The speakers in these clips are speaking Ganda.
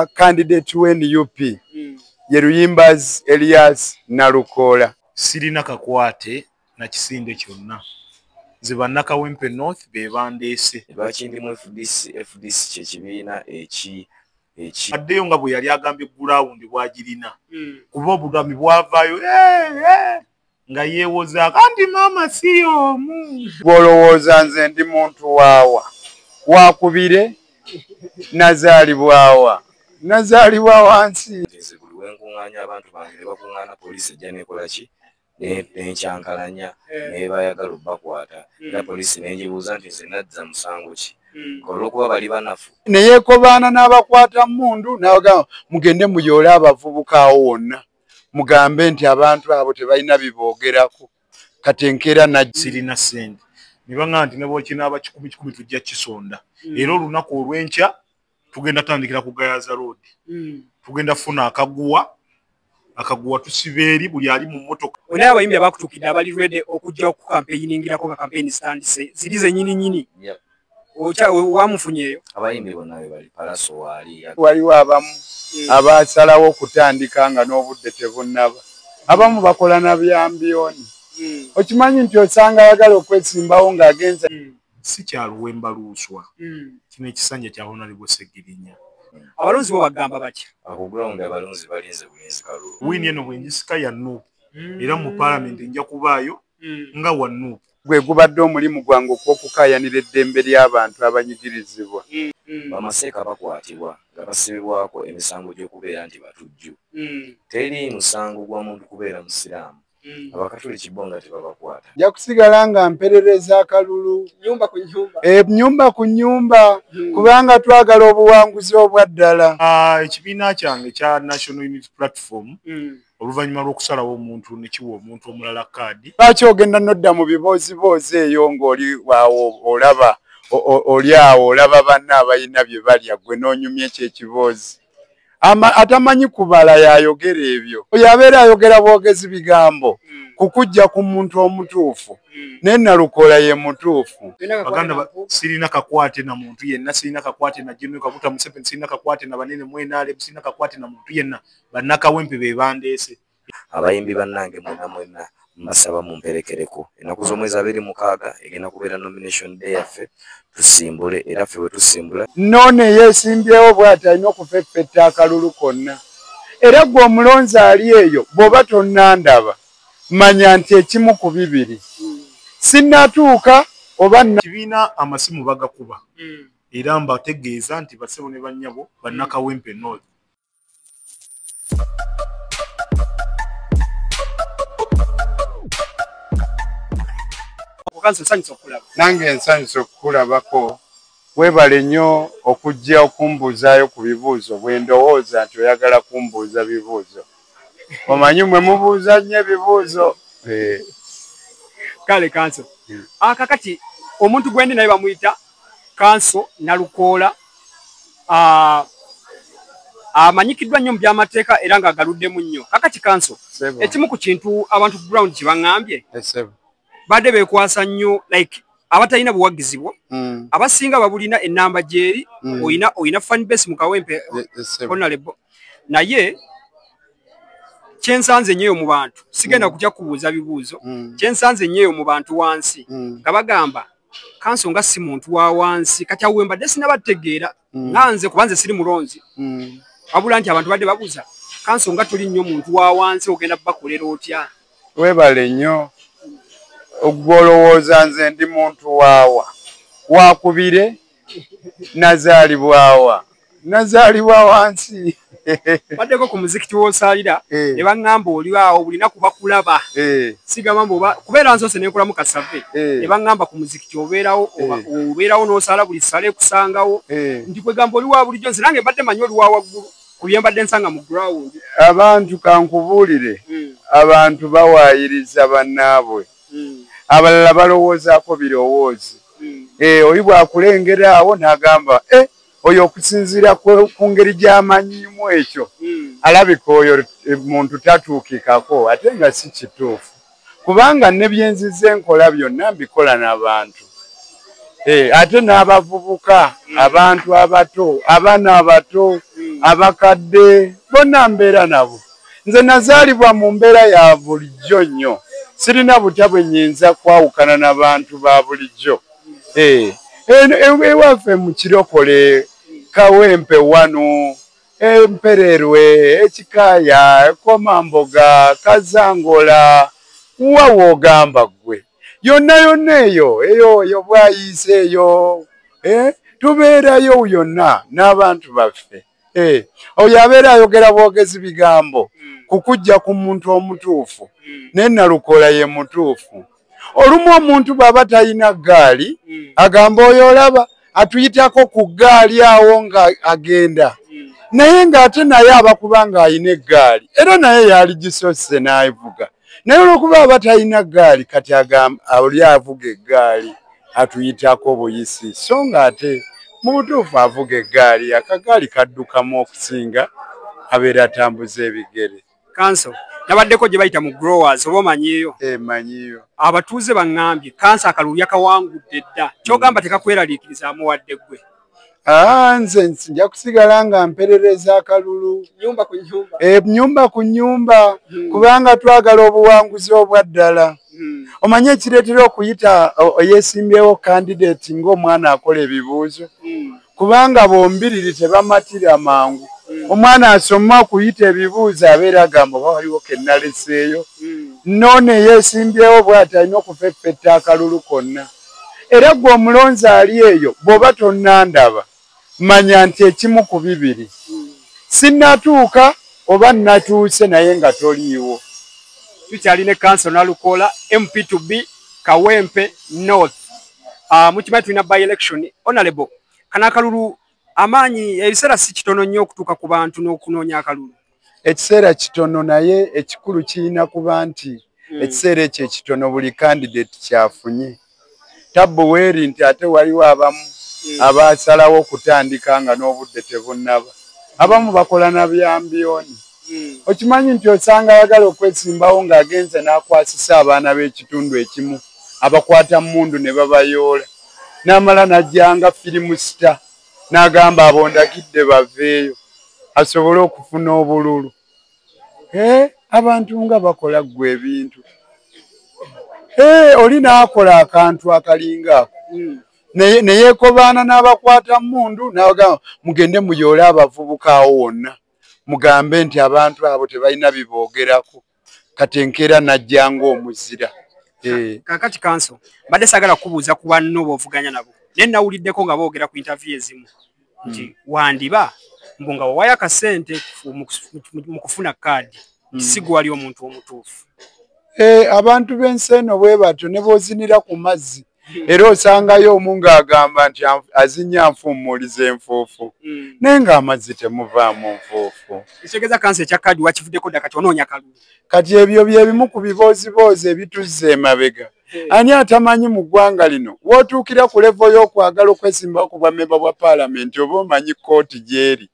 candidate wa nup mm. ye luyimbaz elias nalukoola sirina kakwate na kisinde kyonna nze bannakawempe north be bandeese lwaki ndimu fdc fdc kyekibiina eki eki addeyo nga bwe yali agambye gulawundi bwagirina mm. kuba obugambi bwavaayo hey, eh, eh. hey. nga yeewozaako anti maama si y'omu gw'olowooza nze ndi muntu waawa wakubire nazaalibwawa nazaalibwa wansi nze buli wenkuŋŋaanya abantu bange ne bakuŋŋaana poliisi ejja nekola ki nenkyankalanya eh. nebayagala obakwata hmm. era poliisi nenjibuuza nti nze nadza musango ki hmm. olwokuba bali banafu neyekobaana n'abakwata mundu nabagamba mugende muyoole abavubuka awo wonna mugambe nti abantu abo tebalina biboogerako kati enkeera nasirina sente nebanga nti nebwokinaaba kikumi kikumi tujja kisonda mm. era olunaku olwenkya tugenda tandikira ku gayaza road mm. tugenda funa akaguwa akaguwa tusiba eri buli ali mu motoka wena abayimbi abakutukidde abali rwede okujja okukampeyiningirako nga kampeyini zitandise ziri zenyini nyini okya wamufunyeyo abayimbi bonna be bali palaso waali waliwo abamu hmm. abasalawo okutandika nga n'obudde tebunnaba abamu bakola na byambiyoni hmm. okimanyi nti osanga ayagala okwesimbawo ng'agenza hmm. si kyaluwemba luuswa kino ekisanja kya honalibwa segirinya abalonzi bo bagamba batya akugulawundi abalonzi balinze bulinzi kalulu wiini eno bwengisika ya nuupu era mu palamenti nja kubaayo nga wa nuupu gwe gubadde omulimu gwange okw'okukaayanira eddembe ly'abantu abanyigirizibwa. Bamaseeka bakwatibwa nga basibibwako emisango gy'okubeera nti batujju. Teri musango gwa muntu kubeera Musiraamu. Abakatuliki bo nga tebabakwata. Nja kusigala nga mperereza akalulu ennyumba ku nnyumba hmm. kubanga twagala obuwanguzi obwa ddala. Ah, ekibiina kyange ekya National Unity Platform hmm. oluvannyuma lw'okusalawo omuntu ne kiwa omuntu omulala kaadi. Lwaki ogenda n'odda mu bibooziboozi eyo ng'oli awo olaba oli awo olaba banna abalina bye balya ggwe n'onyumya ekyo ekiboozi? Atamanyi kubala y'ayogera ebyo. Oyo abeera ayogera bwogezi bigambo hmm. kukujja ku muntu omutuufu hmm. naye nalukola ye mutuufu. Baganda sirina kakwate na muntu yenna, sirina kakwate na General Kaguta Museveni, sirina kakwate na banene mu NRM, sirina kakwate na muntu yenna. bannakawempe be bandeese abayimbi bannange mwena mwena mbasaba mumperekereko ennaku z'omwezi abiri mukaaga egenda kubeera nomination day yaffe tusimbule era ffe bwe tusimbula noona eyeesimbyewo bwati alina okufeffetta akalulu konna era gwe omulonzi ali eyo bw'oba tonnandaba manya nti ekimu ku bibiri sinnatuuka oba kibiina amasimu bagakuba hmm. era mbategeeza nti basebo ne bannyabo bannakawempe north nange nsanyusa okukulabako webale nnyo okujja okumbuuzaayo ku bibuuzo bwe ndowooza nti oyagala kumbuuza bibuuzo omanyi mwe mubuuza nnyo ebibuuzo eh. kale kanso hmm. akakati ah, omuntu gwendi naye bamuyita kanso nalukoola amanyikiddwa nnyo mu byamateeka era nga agaluddemu nnyo kakati kanso ekimu ku kintu abantu ground kyebaŋambye badde bekwasa nnyo like abatalina buwagizi bwo mm. abasinga babulina enamba gyeri mm. oyina oyina fanbase mu kawempe onalebo naye kyensanze nnyoyo mu bantu sigenda mm. kutya kubuuza bibuuzo mm. kyensanze nnyoyo mu bantu wansi mm. nga bagamba kanso nga si muntu wa wansi kati awo wembadde sinaba tegeera mm. nga nze kuba nze siri mulonzi mm. wabula nti abantu badde babuza kanso nga tuli nnyo muntu wa wansi ogenda bakolera otya webale nnyo ogwolowooza nze ndi muntu waawa wakubire nazaalibwawa nazaalibwa wansi baddeko ku muzikiti wosaalira eh. ne baŋŋamba oli awo buli naku bakulaba eh. sigamba mbu kubeera nsoose nenkolamu kasave eh. ne baŋŋamba ku muzikiti obeerawo obeerawo n'osaala buli sala ekusangawo nti kwegamba oli wa bulijjo nze nange mbadde manyi oli wa waggulu ku bye mbadde nsanga mu ground abantu kankubuulire hmm. abantu bawaayiriza bannaabwe hmm. abalala balowoozaako birowoozi hmm. eh, oyi bwakulengera awo nagamba eh, oyo okusinziira ku ngeri gyamanyimu ekyo hmm. alabika oyo eh, muntu tatuukikako ate nga si kituufu kubanga ne byenziza enkola byonna mbikola n'abantu Eh, ate n'abavubuka hmm. abantu abato abaana abato hmm. abakadde bonna mbeera nabo nze nazaalibwa mu mbeera ya bulijjo nnyo sirina butya bwe nyinza kwawukana na bantu ba bulijjo eh, ewaffe mu kirokole kawempe wano empererwe ekikaaya ekomamboga kazangola wawa ogamba ggwe yonna yonna eyo eyo eyo bwayiise eyo eh, tubeerayo yonna n'abantu baffe Eh, oyo abeera ayogera bwogezi bigambo hmm. kukujja ku muntu omutuufu hmm. naye nalukola ye mutuufu olumu omuntu bwaba talina ggaali hmm. agamba oyo olaba atuyitako ku ggaali awo nga agenda naye ng'ate naye aba kuba ng'alina eggaali era naye yaali gisose n'avuga naye olwokuba aba talina ggaali kati agamba oli avuga eggaali atuyitako buyisi so nga ate mu butuufu avuga eggaali akagaali kaddukamu okusinga abeera atambuza ebigere kanso nabaddeko gye bayita mu growers oba omanyiyo eh, manyiyo abatuuze baŋŋambye kanso akalulu yakawangudde dda kyogamba tekakweraliikirizaamu wadde ggwe nze nja kusigala nga mperereza akalulu enyumba ku nyumba eh, hmm. kubanga twagala obuwanguzi obwaddala hmm. omanye ekireetera okuyita oyesimbyewo kandidati ngaomwana akola ebibuuzo hmm. kubanga bombiriri tebamatira mangu omwana asoma okuyita ebibuuzo abeera agamba oba waliwo kenaleseeyo noona eyesimbyewo bwati alina okufeffetta akalulu konna era gwe omulonzi ali eyo bwoba tonandaba manya nti ekimu ku bibiri sinatuuka oba natuuse naye nga toliiwo tukyalina ekanso nalukoola mptb kawempe north ah, mukimanyi tulina by election onalebo kana akalulu amaanyi ebiseera si kitono nnyo okutuuka ku bantu n'okunoonya akalulu ekiseera kitono naye ekikulu kirina kuba nti hmm. ekiseera ekyo ekitono buli kandidate kyafunye tabbu weeri nti ate waliwo abamu hmm. abasalawo okutandika nga n'obudde tebunnaba abamu bakola na byambiyoni hmm. okimanyi nti osanga ayagala okwesimbawo ng'agenze n'akwasisa abaana b'ekitundu ekimu abakwata mundu ne babayoola n'amala n'ajjanga firimu sita n'agamba abo ndagidde baveeyo asobole okufuna obululu eh, abantu nga bakola ggwe ebintu eh, oli n'akola akantu akalinga ako hmm. neyekobaana n'abakwata mundu n'abagamba mugende muyoole abavubuka awo wonna mugambe nti abantu abo tebalina biboogerako kati enkeera najja ng'omuzira eh. kakati kanso mbadde sagala kubuuza ku banno boovuganya nabo naye nawuliddeko nga boogera ku intaviyu ezimu nti hmm. wandiba mbu nga wawayo akasente mu kufuna kaadi hmm. si gwali omuntu omutuufu eh, abantu b'ensi eno bwe batyo ne boozinira ku mazzi era osangayo omu ng'agamba nti azinya nfuumuuliza enfuufu mm. naye ng'amazzi temuvaamu nfuufu ekitegeeza kansa ekya kaadi wakivuddeko dda kati onoonya kalulu kati ebyo bye bimu ku bibooziboozi ebituzza emabega eh. ani atamanyi mu ggwanga lino wootuukira ku levo y'okwagala okwesimbako ku bwamemba bwa paalamenti oba omanyi kkooti gy'eri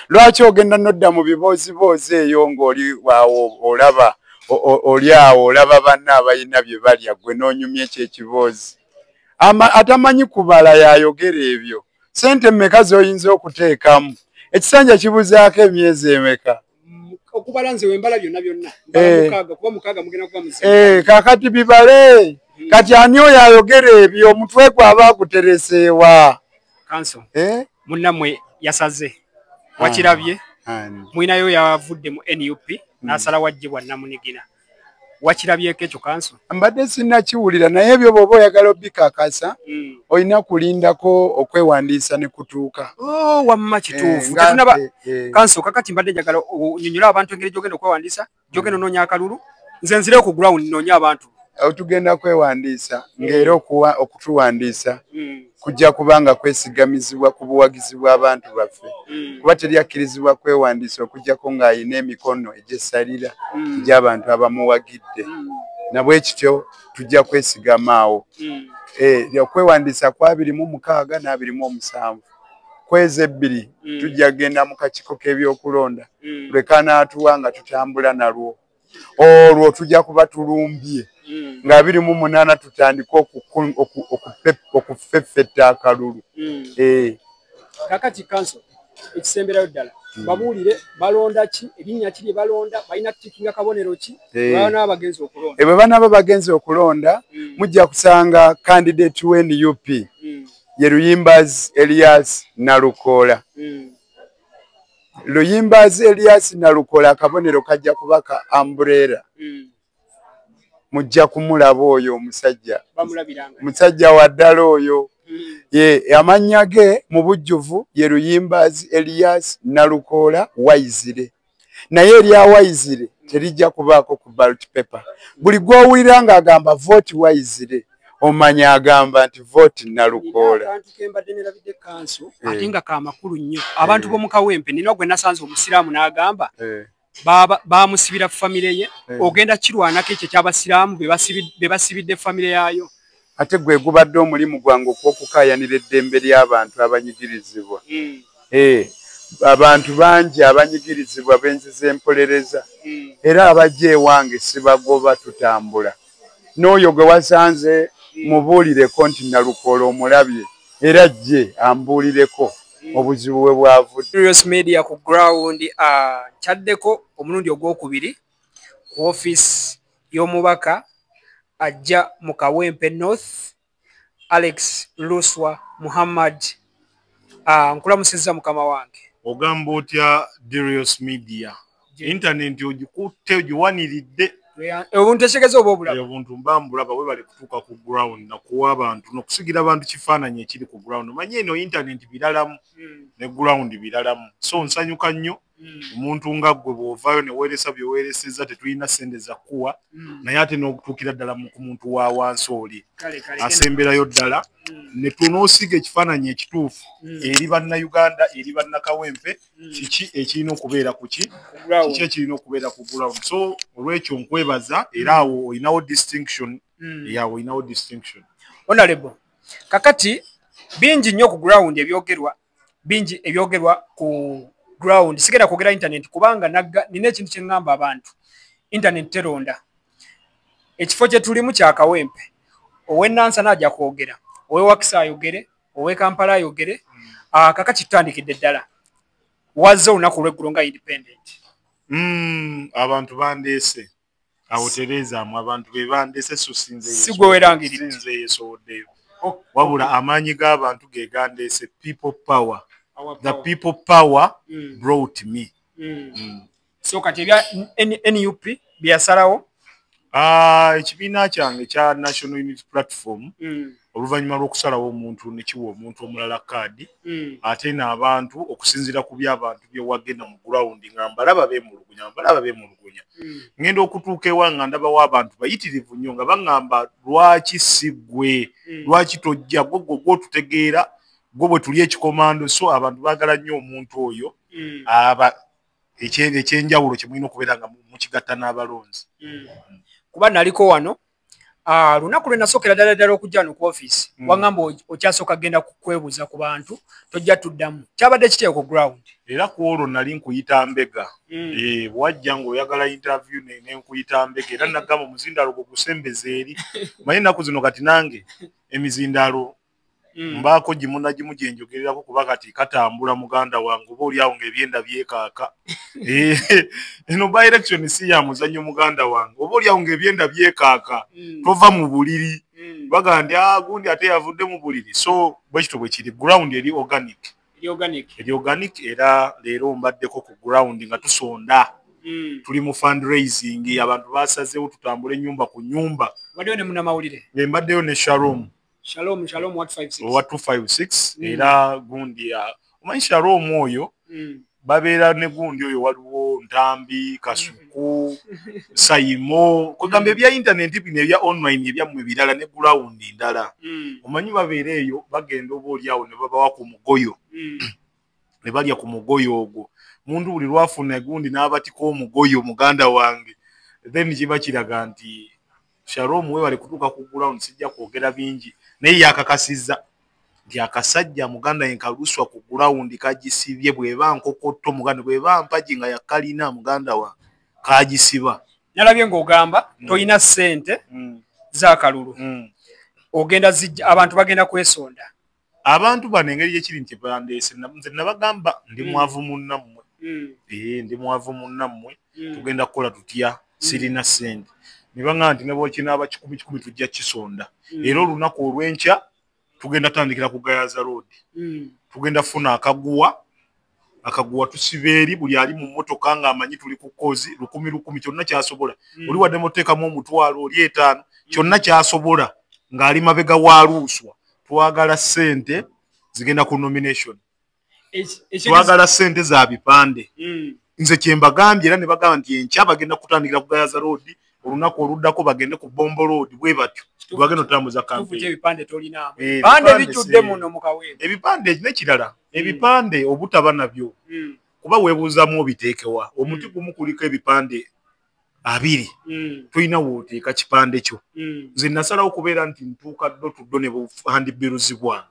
lwaki ogenda nodda mu bibooziboozi eyo ng'oli awo olaba oli awo olaba banna abalina bye balya gwe n'onyumya ekyo ekiboozi atamanyi kubala yayogera ebyo sente meka z'oyinza okuteekamu ekisanja kibuzaako emyezi emeka okubala nze wembala byonna byonna eh. mukaaga kuba mukaaga mugenda kuba muzi eh, kakati bibale hmm. kati ani oyo ayogera ebyo omutwe gwe aba agutereseewa kanso eh? munnamwe yasaze wakirabye mwinayo yavudde mu nup hmm. n'asala wajjibwa namunigina wakirabyeko ekyo kanso mbadde sinnakiwulira naye ebyo bwoba oyagala obikakasa hmm. olina kulindako okwewandiisa ne kutuuka oh, wamma eh, kituufu tetunaba eh, eh. kanso kakati mbadde njagala onyonyola abantu engeri gyogenda okwewandiisa gyogenda hmm. onoonya akalulu nze nzire ku ground noonya abantu tugenda kwewandiisa ngaera okutuwandiisa hmm. kujja kuba nga kwesigamizibwa ku buwagizi bw'abantu baffe mm. kuba teri akkirizibwa kwewandiisa okujjako ng'alina emikono egyesalira mm. gy'abantu abamuwagidde mm. nabwe kityo tujja kwesigamaawo eh, okwewandiisa ku abiri mu mukaaga n'abiri mu omusanvu kwezi ebbiri tujja kugenda mu kakiiko k'ebyokulonda lwe kanaatuwa nga tutambula nalwo olwo tujja kuba tulumbye mm. nga biri mu munaana tutandike okufeffetta akalulu mm. eh. kakati kanso ekisemberayo ddala mm. babuulire balonda ki erinnya ki lye balonda balina tutikinga kabonero ki eh. banaaba bagenzi okulonda ebwe eh, banaaba bagenzi okulonda mujja kusanga kandidate wnup ye luyimbazi elias nalukoola luyimbaazi eliasi nalukola akabonero kajja kuba ka ambureera mm. mujja kumulaba oyo omusajja musajja wa ddala oyo mm. ye amannya ge mu bujjuvu ye luyimbaazi eliasi nalukoola waizire naye erya waizire terijja kubaako ku balt paper buli gwowulira nga agamba voti waizire omanya agamba nti voti nalukoola ate nga kamakulu nnyo abantu eh. bomukawempe nina gwe nasanze omusiraamu n'agamba eh. bamusibira famire ye eh. ogenda kirwanako ekyo ekyabasiraamu bebasibidde famire yaayo ate gwe gubadde omulimu gwange okw'okukaayanira eddembe ly'abantu abanyigirizibwa. Eeh, abantu bangi abanyigirizibwa be nzize mpolereza era abajja ewange sibagoba tutambula. N'oyo gwe wasanze mubuulireko nti Nalukoola omulabye era ajje ambuulireko obuzibu we bwavudde. Curious Media ku ground, ah, nkyaddeko omulundi ogw'okubiri. ku ofiisi y'omubaka ajja mu kawempe north alex luswa muhammad ah, nkulamusiza mukama wange ogamba otya dirios media intanenti ogikutte ogiwaniridde obuntu ekigeza oba obulabobuntu mba mbulaba webale kutuuka ku ground nakuwa abantu nokusigira abantu kifaananyi ekiri ku ground omanye eno intanenti biralamu hmm. ne ground biralamu so nsanyuka nnyo Mm. omuntu nga gwe bwovayo neweresa byewereseza tetulina sente zakuwa mm. naye ate nokutuukira ddala ku muntu wa wansi oli asemberayo ddala mm. netunosiga ekifaananyi ekituufu eri bannauganda eri bannakawempe kiki ekirina okubeera kuki kiki ekirina okubeera ku ground so olwekyo nkwebaza era awo olinawo distinction eyawo olinawo distinction onalebo kakati bingi nnyo ku ground ebyogerwa bingi ebyogerwa ku ground sigenda kwogera internet kubanga nina ekintu kyeŋŋamba abantu internet teronda ekifo kye tulimu kya kawempe owenansana aja kwogera owewakisa ayogere owe kampala ayogere ah, kaka kitutandikidde ddala wazze olunaku olweggulo nga independent mm, abantu bandeese awo tereezaamu abantu be bandese so sinzesinze yesowoddeyo oh, wabula oh. amaanyi g'abantu ge gandeese people power the people power mm. brought me mm. Mm. so kati ebya nup byeyasalawo ah, ekibiina kyange kya national unity platform mm. oluvannyuma lw'okusalawo omuntu ne kiwa omuntu omulala kaadi hmm. ate n'abantu okusinziira ku by'abantu bye wagenda mu gurawundi nga mbalaba beemulugunya mbalaba beemulugunya hmm. ngenda okutuuka ewa nga ndabawo abantu bayitirivu nnyo nga baŋŋamba lwaki si ggwe hmm. lwaki tojja gwe gwo gwotutegeera gwe bwe tuli ekikomando so abantu baagala nnyo omuntu oyo aba ekyenjawulo kye mulina okubeera nga mukigatta n'abalonzi kuba naliko wano Ah, lunaku lwenasokera ddala ddala okujja no ku office mm. wangamba okyasooka genda kukwebuza ku bantu tojja tuddamu kyabadde kiteyo ku ground era ku olwo nali nkuyita mbega mm. e, wajja ngaoyagala interview nenkuyita mbega era nagamba omuzindaalo gwe gusembeza eri manye ennaku zino kati nange emizindaalo mm. mbaako gimunagimu gyenjogererako kuba kati katambula muganda wange oba oliawo nga ebyenda byekaaka eno by election si ya muzanyo muganda wange oba oliawo nga ebyenda byekaaka mm. tova mu buliri mm. baga ndi ah, gundi ate yavudde mu buliri so bwekito bwekiri ground eri organic eri organic era leero mbaddeko ku ground nga tusonda Mm. tuli mu fundraising abantu basazewo tutambula enyumba ku nyumba mbaddeyo ne sharom shalom shalom what 56 owa 256 Mm. era gundi ya- omanyi shalom oyo Mm. babeera ne gundi oyo waliwo ntambi kasuku sayimo kwegamba ebya intaneti bino ebya online ebyammwe birala ne gulawundi ndala Mm. omanyi babeera eyo bagenda oba olyawo ne babawa ku mugoyo Mm. ne balya ku mugoyo ogwo muntu buli lwafuna gundi n'abatika omugoyo muganda wange then kiba kiraga nti Sharom webale kutuuka ku ground sijja kwogera bingi naye yakakasizza nti akasajja muganda yenka luswa ku ground kagisibye bweba nkokotto muganda bweba mpagi nga yakalina muganda wa kagisiba nalabye ng'ogamba mm. tolina ssente mm. zakalulu mm. ogenda zijja abantu bagenda kwesonda abantu bano engeri gyekiri nti bandeese nze nabagamba ndi mm. mwavu munnammwe mm. ee ndi mwavu munnammwe mm. tugenda kukola tutya sirina sente ne baŋaa nti nebwokinaaba kikumi kikumi tujja kisonda era olunaku olwenkya tugenda tandikira ku gayaza roodi tugenda funa akaguwa akaguwa tusiba eri buli ali mu mmotoka ng'amanyi tuli ku kozi lukumi lukumi kyonna kyasobola mm. oli wadde muteekamu omutwalo oli etaano mm. kyonna kyasobola ng'ali mabega wa luuswa twagala ssente zigenda ku nomination twagala ssente za bipande mm. nze kyembagambye era ne bagamba nti enkya bagenda kutandikira kugayaza roodi olunaku oluddako bagende ku bombo road bwe batyo tebagenda otambuza kampebipande eh, nekirala hmm. ebipande obutaba nabyo hmm. kuba webuuzamu obiteekewa hmm. omuti gumu kuliko ebipande abiri tulina wooteeka kipande kyo nze nasalawo okubeera nti ntuuka ddo tuddo ne buhandibiruzibwa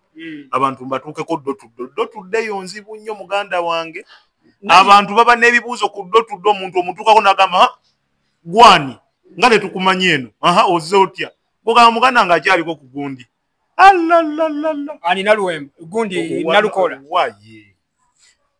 abantu mbatuukeko ddo tuddo ddo tuddeyo nzibu nnyo muganda wange abantu baba n'ebibuuzo ku ddo tuddo omuntu omutuukako nagamba gwani nga tetukumanyi eno aha oze otya ogamba muganda nga akyaliko ku gundi alina luwembo gundi nalukola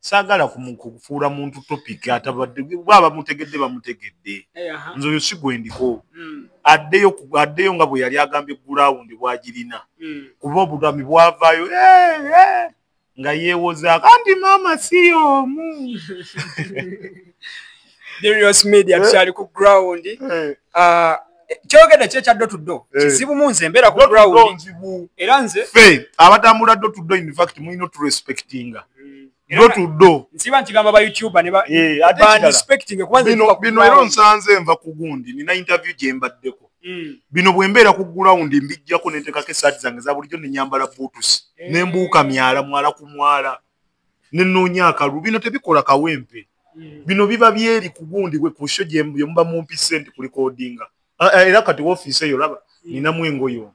sagala kufuula muntu topic atabadde bwaba mutegedde bamutegedde eh, nze oyo sigwendiko hmm. addeyo addeyo nga bwe yali agambye gulawundi bwagirina hmm. kuba obugami bwavaayo eh, eh. nga yeewozaako anti maama si y'omu Darius Media eh? tukyali ku ground eh. ah, kyogedde ki ekyaddo tuddo eh. kizibu mu nze embeera ku ground era nze fe abatambula ddo tuddo in fact mulina oturespectinga bino era onsanze nva ku gundi nina interview gye mbaddeko Mm. bino bwembeera ku gulawundi mbijjako nentekako esaati zange za bulijjo nenyambala buutusi eh. nembuuka myala mwala ku mwala nenoonya akalulu bino tebikola kawempe mm. bino biba byeri ku gundi gwe ku sho gyemuba mumpi sente kulikodinga ah, eh, era kati wofiisi eyo laba mm. ninamu engoyo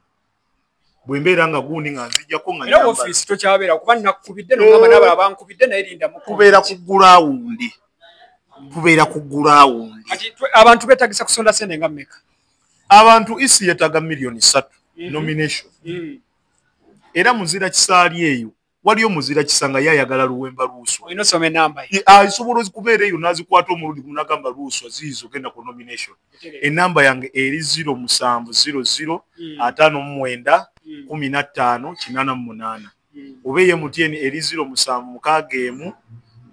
bwembeera nga gundi nga nzijjako nga era ofiisi tokyabeera kuba nakubidde nogamba nabala bankubidde naye linda mukubeera ku gulawundi kubeera ku gulawundi kati abantu betagisa kusonda sente nga meka abantu isi yetaga millioni satu mm -hmm. nomination mm -hmm. era muzira kisaali eyo waliyo muzira kisanga ye ayagala luwemba luuswa asobola okubeera eyo n'azikwata omulundi gumu n'agamba luuswa ziizo genda ku nomination enamba yange eri ziro musanvu ziro ziro hmm. ataano mu mwenda hmm. kumi na ttaano kinaana mu munaana hmm. oba eye mutyeni eri ziro musanvu mukaaga emu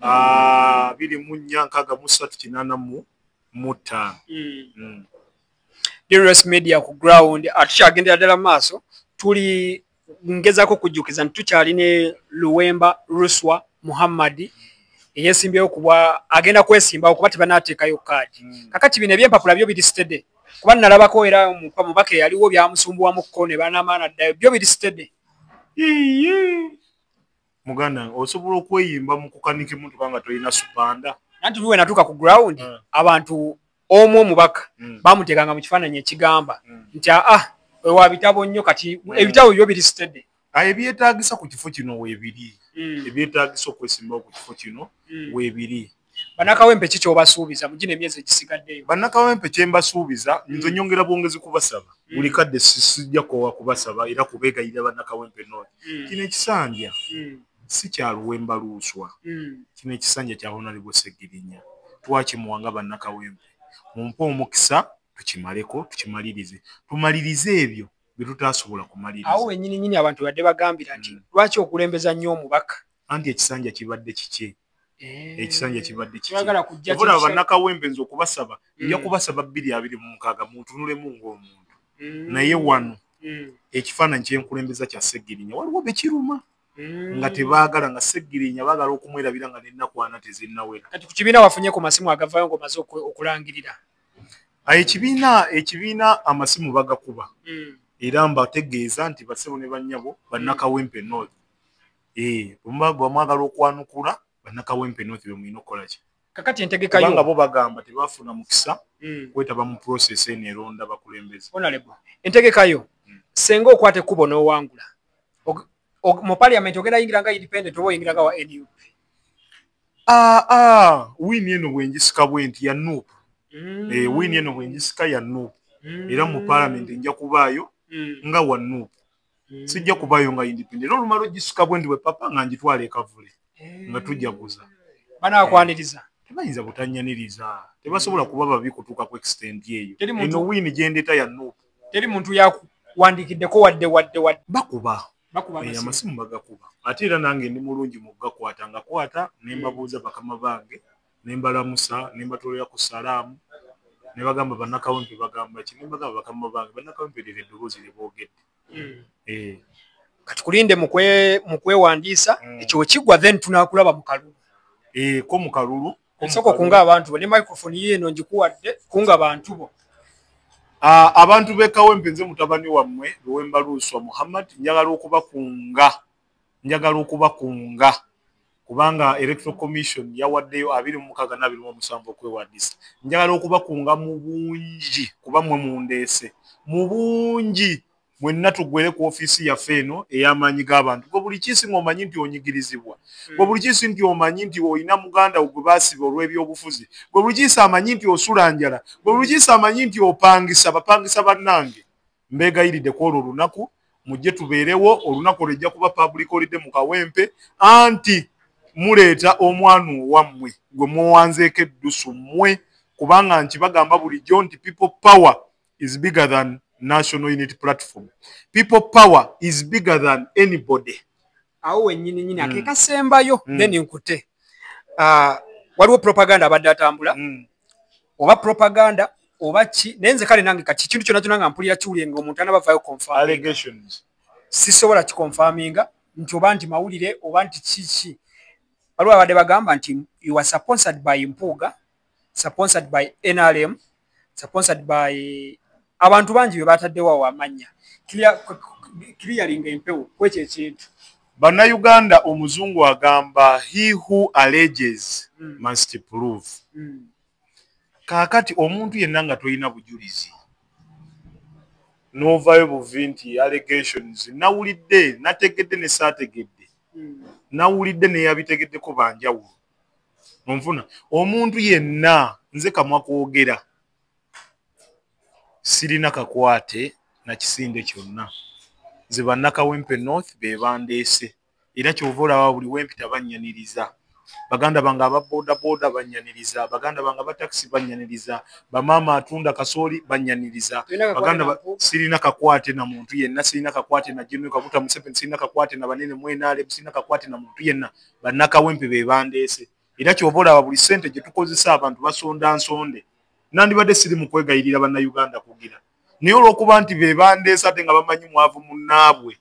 ah, biri mu nnya nkaaga mu ssatu kinaana mu mu ttaano drs media ku ground atukyagenda ah, ddala maaso tuli ngezako kujjukiza nti tukyali ne luwemba ruswa muhammadi eyesimbyewo kuba agenda kwesimbawo kuba tebanateekayo kaadi mm. kakati bino ebyempapula byo biri sitede kuba nalabako era muka mubaka eyaliwo byamusumbuwamukko ne banamaana ddayo byo biri sitede muganda osobola okweyimba mu kukanika emotoka nga tolina supanda nanti luwe natuuka ku ground ah. abantu omu omubaka mm. bamuteekanga mu kifaananyi ekigamba mm. nti aa ah, ewa bitabo nnyo kati mm. ebitabo byo biri sitede ah, ebyetagisa ku kifo kino webiri mm. ebyetagisa okwesimbawo ku kifo kino mm. webiri banakawempe ki kyobasuubiza mugina emyezi egisigaddeyo banakawempe kyembasuubiza mm. nze nyongera bwongezi kubasaba mm. buli kadde sisijja kowa kubasaba era kubegayira banakawempe noo mm. kino ekisanja mm. si kya luwemba luuswa mm. kino ekisanja kya honalebo segirinya twakimuwa nga bannakawempe mumpe omukisa tukimaleko tukimalirize tumalirize ebyo byetutasobola kumaliriza awo wenyini nyini abantu badde bagambira nti mm. lwaki okulembeza nnyo omubaka anti ekisanja kibadde kikye eh. ekisanja kibadde kibula bannakawempe nze okubasaba mm. nja kubasaba bbiri abiri mu mukaaga muntunulemu ng'omuntu mm. naye wano ekifaananyi kyenkulembeza kya segirinya waliwo bekiruma mm. nga tebaagala nga seggirinya baagala okumwerabira nga nenakwana tezinnawera kati ku kibiina wafunye ku masimu agavayo ngaomaze okulangirira ah, ekibiina ekibiina amasimu bagakuba mm. era mbategeeza nti basebo ne bannyabo bannakawempe mm. north eh, bwemwagala okwanukula bannakawempe north be mulina okukola ki kakati entegeka yo bo bagamba tebafuna mukisa mm. kwetaba mu process eno eronda bakulembeze entegeka yo mm. senga okwata ekkubo n'owangula mu parliament ogenda yingira nga independent oba oyingira nga wa nup aa ah, ah, wini eno bwenjisika bwenti ya nup mm. e, eh, wini eno bwenjisika ya nup mm. era mu parliament nja kubaayo mm. nga wa nup mm. sijja kubayo nga independent era olumala ogisuka bwendi bwe papa nga ngitwala ekavule mm. nga tujjaguza banakwaniriza mm. tebayinza butanyaniriza tebasobola kuba babi kutuuka ku extent eyo eno wini gyendeta ya nup teri muntu yakuwandikiddeko wadde wadde wadde bakuba eh, amasimu bagakuba ate era nange ndi mulungi mu gakwata nga kwata nembabuuza bakama bange ne mbalamusa ne mbatwalira ku salaamu ne bagamba bannakawempe bagamba ki ne bagamba bakama bange bannakawempe lira eddoboozi lye boogedde hmm. eh. kati kulinde mu kwewandiisa hmm. ekyo kigwa then tunakulaba mu kalulu eh, ko mu kalulu osooka okunga abantu bo ne microfone ye eno ngikuwadde kunga bantu bo ah, abantu b'ekawempe nze mutabani wammwe lwewembaluuswa muhammad njagala okubakunga njagala okubakunga kubanga electoral commission yawaddeyo abiri mumukaaga nabiri mu omusanvu okwewandiisa njagala okubakunga mu bungi kuba mwe mundeese mu bungi mwenna tugwere ku ofiisi yaffe eno ey'amaanyi g'abantu gwe buli kiisi ng'omanyi nti onyigirizibwa gwe buli kiisi nti omanyi nti olina muganda gwe baasiba olw'ebyobufuzi gwe buli kiisi amanyi nti osula njala gwe buli kiisi amanyi nti opangisa bapangisa bannange mbeegayiridde ku olwo olunaku mujje tubeerewo olunaku olwejja kuba public olidde mu kawempe anti muleeta omwana owammwe gwe muwanzeeko eddusu mmwe kubanga nti bagamba bulijjo nti people power is bigger than national unity platform people power is bigger than anybody awo wenyini nyini mm. akeka sembayo mm. then nkute uh, waliwo propaganda abadde atambula mm. oba propaganda oba ki naye nze kale nange kati kintu kyona kyona nga mpulira kiwulire nga omuntu anabavayo confirmations sisobola kikonfaminga nti oba nti mawulire oba nti kiki waliwo abadde bagamba nti you are sponsored by mpuuga sponsored by nrm sponsored by abantu bangi bebataddewo awo amannya kiriyalinga empewo kwekyo ekintu bannayuganda omuzungu agamba he who alleges mm. must prove mm. kaakati omuntu yenna nga tolina bujulizi novayo buvi nti allegations nawulidde nategedde nesaategedde mm. nawulidde neyabitegeddeko banjawulo onfuna omuntu yenna nze kamwa kwogera sirina kakwate na kisinde kyonna nze bannakawempe north be bandeese era kyova olaba buli wempita bannyaniriza baganda bange ababodaboda bannyaniriza baganda bange abatakisi bannyaniriza bamaama atunda kasooli bannyaniriza baganda sirina kakwate na muntu yenna sirina kakwate na jenoka kuta museveni sirina kakwate na banene mwenale sirina kakwate na muntu yenna bannakawempe be bandeese era kyoba olaba buli ssente gye tukozesa abantu basonda nsonde nandibadde siri mu kwegayirira bannayuganda kugira naye olw'okuba nti be bandeese ate nga bamanyi mwavu munnaabwe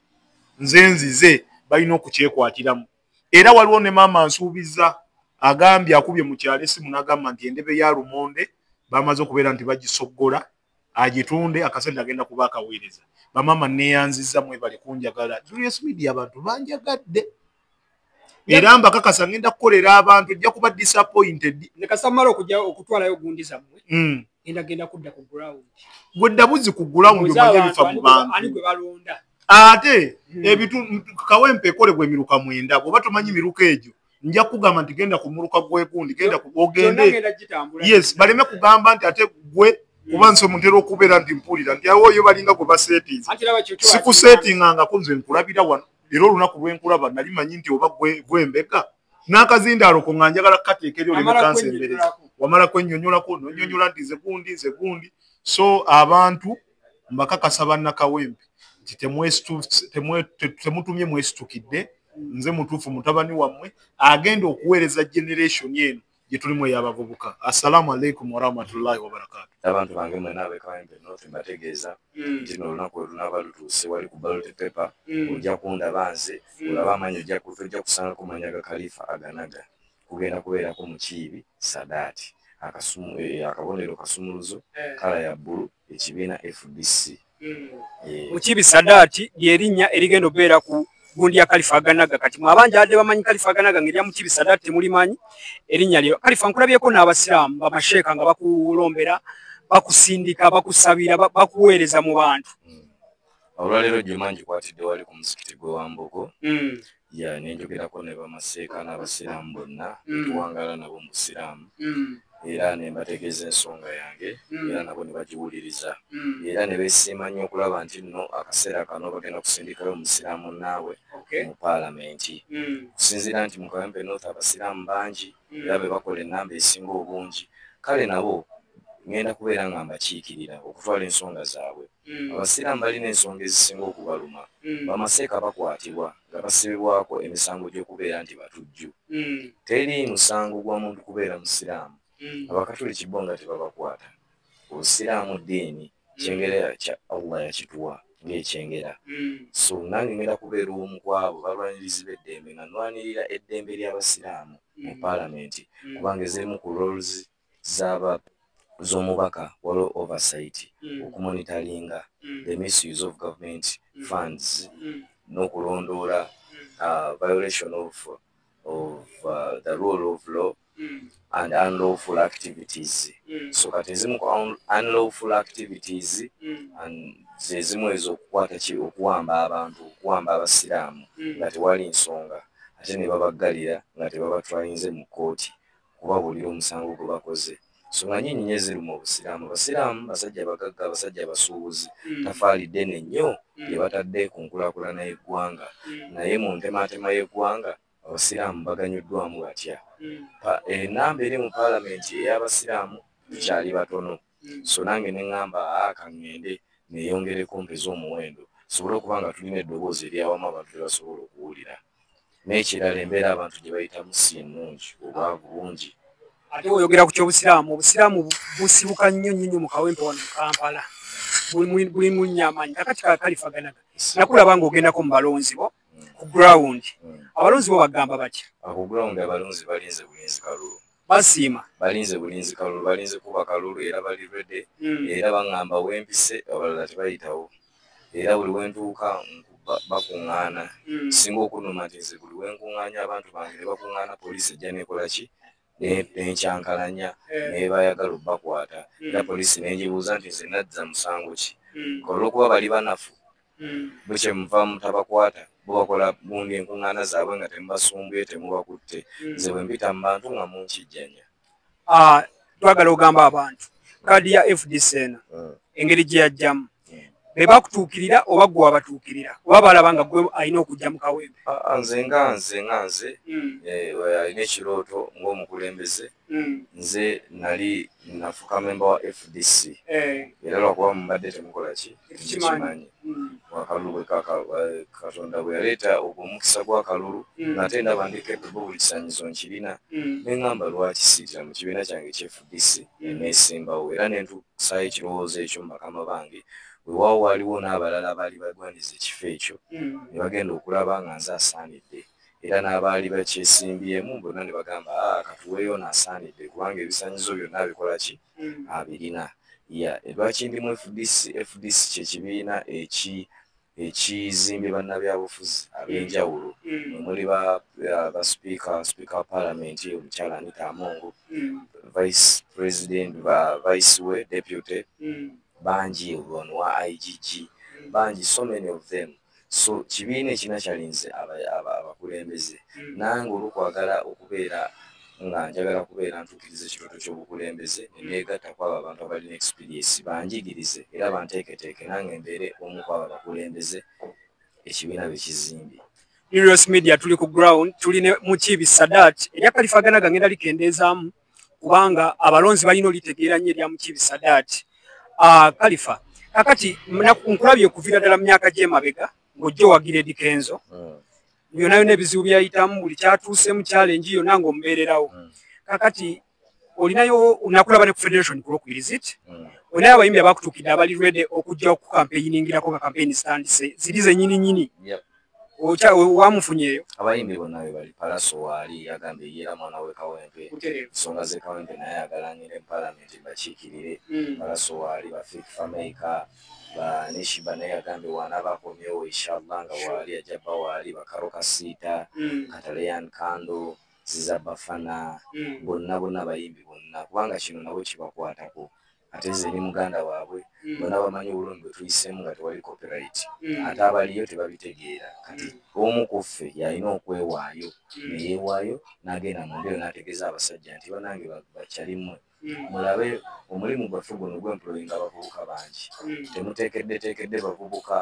nze nzize balina okukyekwatiramu era waliwo ne maama nsuubiza agambye akubye mu kyalo esimu n'agamba nti endebe ya lumonde bamaze okubeera nti bagisoggola agitunde akasente agenda kuba akaweereza bamama neyanziza mwebali kunjagala julius media abantu banjagadde era mbakakasa ngenda kukolera abantu ojja kuba disappointed nekasamala okuja okutwalayo gundi zammwe mm. enda genda kudda ku ground gwe ddabuzi ku ground omanye bifa mu bantu ani gwe balonda ate mm. ebitu kawempe ekolebwa emiruka mwenda bwoba tomanyi miruka egyo nja kugamba nti genda ku muluka gwegundi genda ogende yes baleme kugamba nti ate gwe mm. oba nze muntera okubeera nti mpulira nti awoyo balinga gwe basetinze sikusetingangako nze nkulabira wano era olunaku lwenkulaba nali manyi nti oba gwembega n'akazindaalo ko nga njagala kukateeka eri olemekansi embere wamala kwenyonyolako nonyonyola nti nze gundi nze gundi so abantu uh, mbakakasa bannakawempe nti temutumye mwesitukidde nze mutuufu mutabani wammwe agenda okuweereza generation eno gyetulimu eyabavubuka assalamu alaikum warahmatullahi wabarakatu abantu bange mwena abekawempe nofe mbategeeza hmm. nti nolunaku olunaba lutuuse wali ku balote pepe hmm. ojja kundaba nze hmm. olaba amanyi ojja kuva ojja kusangako manya ga kalifa aganaga kugenda kubeerako mukiibi sadaati akasumu eh, akabonero kasumuluzo eh. kala ya bbulu ekibiina fdc mukibi sadaati lyerinnya erigenda okubeera ku gundi ya kalifa aganaga kati mwabanja adde bamanyi kalifa aganaga ngerya mukibi sadaati temulimanyi erinnya lyo kalifa nkulabyeko n'abasiraamu bamasheeka nga bakulombera bakusindika bakusabira bakuweereza mu bantu olwaleero juma njikwatidde wali ku muzikiti gwe wambogo hmm. ya nenjogerako ne bamaseeka n'abasiraamu bonna hmm. tuwangala nabo mu busiraamu hmm. era ne mbategeeza ensonga yange era nabo ne bagiwuliriza era ne besiima nnyo okulaba nti nno akaseera kano bagenda kusindikayo omusiraamu naawe mu paalamenti okusinziira nti mu kawempe north abasiraamu bangi era be bakola ennamba esinga obungi kale nabo ngenda kubeera nga mbakiikirira okutwala ensonga zaabwe hmm. abasiraamu balina ensonga ezisinga okubaluma hmm. bamaseeka bakwatibwa nga basibibwako emisango gy'okubeera nti batujju hmm. teri musango gwa muntu kubeera musiraamu abakatuliki bo nga tebabakwata obusiraamu ddiini kyengera kya allah yakituwa ngaekyengera hmm. so nange ngenda kubeera omu kwabo balwanirizi beddembe nga nwanirira eddembe lyabasiraamu hmm. mu palamenti hmm. kubanga ezemu ku roles zaba zomubaka waliwo oversight okumonitalinga the misuse of government funds nokulondoola uh, violation of, of uh, the rule of law mm. and unlawful activities mm. so kati ezimu ku unlawful activities mm. and zezimu ezo okukwata ki okuwamba abantu okuwamba abasiraamu mm. nga tewali nsonga ate ne babaggalira nga tebabatwayinze mu kkooti kubabuulira omusango gwe bakoze so nga nyinyi nye ziri mu busiraamu abasiraamu basajja bagagga abasajja abasuubuzi mm. tafaali ddene nnyo mm. lye batadde ku nkulakulana y'eggwanga mm. naye mu ntemaatema y'eggwanga Abasiraamu baganyuddwamu batya? Enamba eri mu palamenti ey'abasiraamu tukyali batono so nange ne ngamba aa ka ŋŋende neyongereko mpeze omuwendo tusobole okuba nga tulina eddoboozi ery'awamu abantu lye basobola okuwulira. N'ekirala embeera abantu gye bayitamu si nnungi, obwavu bungi. Ate bw'oyogera ku ky'Obusiraamu, Obusiraamu busibuka nnyo nnyo nnyo mu kawempe wano mu Kampala. Buli munnyamanyi kakati kakalifaganaga nakulaba ng'ogendako mu balonzi bo. ku ground abalonzi bo bagamba batya ah, ku ground abalonzi balinze bulinzi kalulu basiima balinze bulinzi kalulu balinze kuba kalulu era bali rede hmm. era baŋŋamba wempise abalala tebayitawo era buli wentuuka bakuŋŋaana hmm. singa okunuma nti nze buli wenkuŋŋaanya abantu bange ne bakuŋŋaana poliisi ejja nekola ki nenkyankalanya eh. nebayagala obakwata hmm. era poliisi nenjibuuza nti nze nadza musango ki hmm. olwokuba bali banafu hmm. bukye muva mutabakwata bobakola bundi enkuŋŋaana zaabwe nga temubasumbuye temubakutte nze bwe mpita mu bantu nga munkijjanya ah, twagala ogamba abantu kaadi ya fdc eno engeri gye yajjamu be bakutuukirira oba gwe wabatuukirira oba balaba nga gwe alina okujja mu kawempe ah, ah, nze nga nze nga nze hmm. eh, alina ekirooto ng'omukulembeze hmm. nze nali nafuka memba wa fdc eh. era lwakuba mubadde temukola ki tekimanyi hmm. wakalulu eh, katonda bwe yaleeta ogwo omukisa gw'akalulu ngate ndaba ndi kepebu buli kisanyizo nkirina ne ŋamba lwaki siitira mu kibiina kyange ekya fdc eneesimbawo era nentuuka Kusaayo ekirowoozo ekyo mubakama bange wewawo waliwo n'abalala abaali bagwanyiza ekifo ekyo hmm. ne bagenda okulaba nga nze asaanidde era n'abaali bakyesimbyemu bonna ne bagamba a ah, katuweeyo naasaanidde kubanga ebisanyizo byonna abikola ki hmm. abirina ya lwaki ndi mu fdc fdc kyekibiina eki ekizimbye bannabyabufuzi ab'enjawulo mm. omuli basipiika uh, sipiika wa paalamenti omukyala anita amongo mm. vice president vice we deputy mm. bangi ono wa igg bangi so many of them so kibiina ekina kyalinze abakulembeze nange olwokwagala okubeera nga njagala kubeera ntuukiriza ekirooto ky'obukulembeze ne neegatta ku abo abantu abalina ekisipiriisi banjigirize era banteeketeeke nange mbeere omu ku abo abakulembeze ekibiina be kizimbye News Media tuli ku ground tuli ne Mukiibi Sadat erya kalifagana gangenda likendeezaamu kubanga abalonzi balina olitegeera nnyo erya Mukiibi Sadat ah, kalifa kakati nkulabye okuviira ddala mu myaka gy'emabega ng'ojja owagira edikenzo hmm. yona yona ebizibu byayitamu buli kyatuusemu challenge yona nga omubeererawo mm. kakati olinayo nakulaba ne ku federation kulwokubiri zit mm. olinayo abayimbi abakutuukidde abali rede okujja okukampeyiningirako nga kampeyini zitandise ziri zenyini nyini wamufunyeyo abayimbi bonna bebali palaso waali yagambye yeera mwana we kawempe ensonga ze kawempe naye agalanire mu palamenti bakiikirire mm. palaso waali bafik fameica Ba- ne shiba naye yagambye waanaaba akomyewo inshallah nga waali ajja bba waali bakaro kasiita Mm, kataleyan kando ziza bafana mm, bonna bonna bayimbi bonna kubanga kino nabo kibakwatako ate nze ni muganda waabwe mm, bonna bamanyi obulumi bwe tuyisemu nga tewali copyright mm, ate abaliyo tebabitegeera kati omu ku ffe yalina okwewaayo mm. neyewaayo n'agenda mu mbeero n'ategeeza abasajja nti banange ba- bakyalimwe mulabe omulimu gwaffe guno gwemployinga abavubuka bangi hmm. temutekeddetekedde bavubuka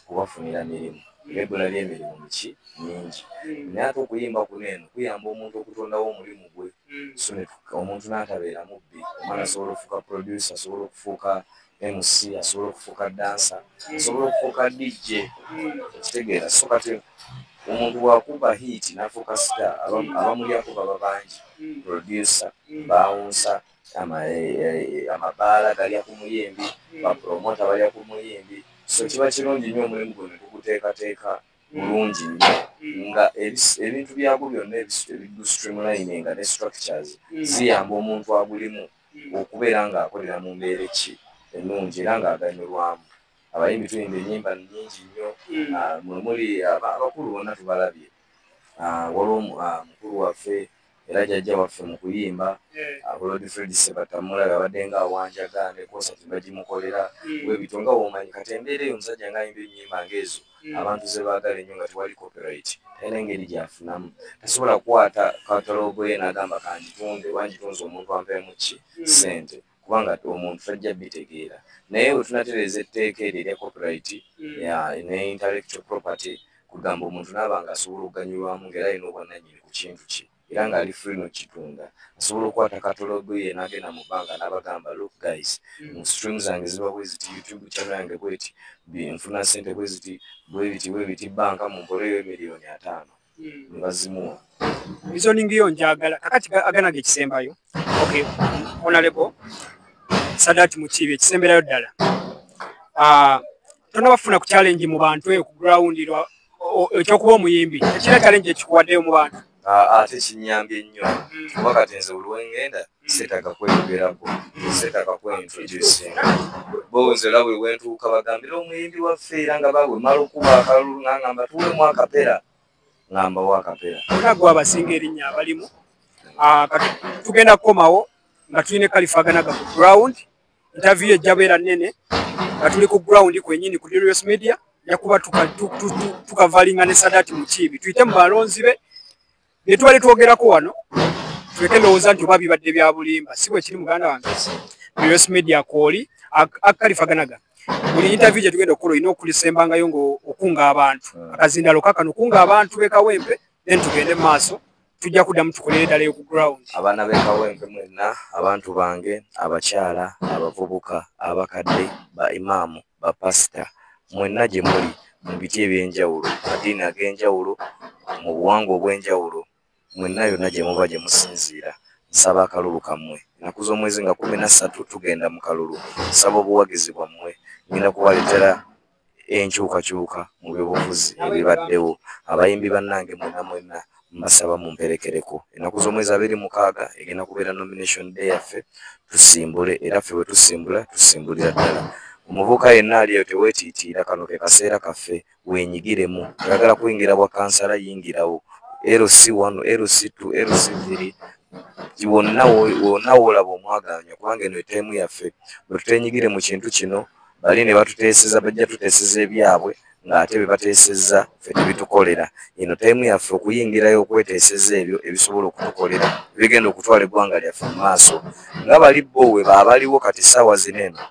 kubafunira mirimu ebula lyemirimu miki mingi hmm. naye ate okuyimba kuno eno kuyamba omuntu okutondawo omulimu gwe hmm. omuntu natabeera mubbi omwana asobola okufuuka producer asobola okufuuka mc asobola okufuuka dansa asobola okufuuka dj okitegeera so kati omuntu wakuba hiiti nafuuka sita abamulyako baba bangi producer bawunsa amabaala galya ku muyimbi bapromota balya ku muyimbi so kiba kirungi nnyo omulimu gwe netuguteekateeka bulungi nnyo nga ebintu byagwo byonna ebiddu streamlining ne structures ziyamba omuntu agulimu mm. okubeera ng'akolera mu mbeera ki ennungi era ng'aganyulwamu abayimbi tuyimba enyimba nyingi nnyo hmm. ah, mwemuli ah, abakulu bonna tubalabye ah, waliwo mukulu waffe era jajja waffe mu kuyimba bulodi fred sebatamulabe abadde nga awanjaga nekosati bagimukolera hmm. webito nga womanyi kati embeera eyo omusajja ngaayimba enyimba ngaezo mm. abantu zebaagala ennyo nga tewali copyright talina engeri gyafunamu tasobola kukwata katalogo ye nagamba kanjitunde oba njitunze omuntu ampemu ki mm. sente kubanga omuntu tajja bitegeera naye wetunatereeza etteeka eryo erya copyright mm. ne intellectual property kugamba omuntu naaba nga asobola okuganyulwamu ngaera alina obwananyini ku kintu kye era nga ali free nokitunda asobola okukwata katologo ye nagenda mu bbanga n'abagamba look guys mm. stream zange ziba bweziti youtube channel yange bweti nfuna sente bweziti bwebiti bwebiti banka mumpoleyo emiliyoni ataano mm. nebazimuwa reasoning yo njagala kakati agana ge kisembayo okay honorable sadat mukibi ekisemberayo ddala ah uh, tonabafuna ku challenge mu bantu eyo ku ground ekyokuba omuyimbi ekira challenge ekikuwaddeyo mu bantu ate kinyambye nnyo mm. kuba kati nze olwengenda mm. setaga kweyogerako setaga kweintroducinga bonze olaba ewentuuka bagambira omuyimbi waffe era nga bawe mala okuba akalulu ngangamba tuwemu akapera ngambawo akapera onagwe abasinga erinnya abalimu ah, tugenda kukomawo nga tulina kalifaganaga ku ground interview ejja beera nnene nga tuli ku ground kwenyini ku Dirius Media yakuba tukavalinga ne Sadati Mukiibi tuyite mu balonzi be ne tubali twogerako wano tuleke ndowooza nti oba bibadde bya bulimba si bwe kiri muganda wange Dirius Media kwoli akalifaganaga buli interview gye tugenda okukola olina okulisembangayo ngaokunga abantu akazindalo kakano okunga abantu bekawempe then tugende mu maaso tujja kuddamu tukolere ddala eyo ku ground abaana b'ekawempe mwenna abantu bange abakyala abavubuka abakadde ba imaamu bapasita mwenna gye muli mu biti eby'enjawulo madiini ag'enjawulo mu buwangwa obw'enjawulo mwenna yonna gye muba gye musinziira nsaba akalulu kammwe ennaku z'omwezi nga kumi na ssatu tugenda mu kalulu nsaba obuwagizi bwammwe ngenda kubaleetera enkyukakyuka mu byobufuzi ebibaddewo abayimbi bannange mwena mwena mbasaba mumperekereko ennaku z'omwezi abiri mukaaga egenda kubeera nomination day yaffe tusimbule era ffe bwe tusimbula tusimbulira ddala omuvubuka yenna ali eyo teweetiitiira kano ke kaseera kaffe wenyigiremu oyagala kuyingira bwa kansala yingirawo lc wano lc t lc biri wonna wonna woolaba omwagaanya kubanga eno eteemu yaffe bwe tutenyigire mu kintu kino bali ne batuteeseza bajja tuteeseza ebyabwe ng'ate be bateeseza ffe tebitukolera eno tayimu yaffe okuyingirayo okweteeseza ebyo ebisobola okutukolera ebigenda okutwala eggwanga lyaffe mu maaso nga bali bo we baabaliwo kati ssaawa zino eno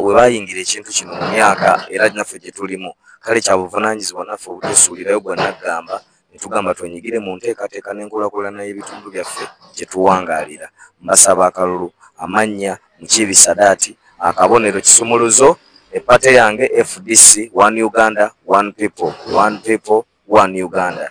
we bayingira ekintu kino mu myaka era naffe gye tulimu kale kya buvunaanyizibwa naffe obutusuulirayo gwa naggamba netugamba twenyigire mu nteekateeka n'enkulakulana y'ebitundu byaffe gye tuwangaalira. Mbasaba akalulu, amannya, Mukiibi Sadaati, akabonero, kisumuluzo, e party yange fdc one Uganda one people one people one Uganda.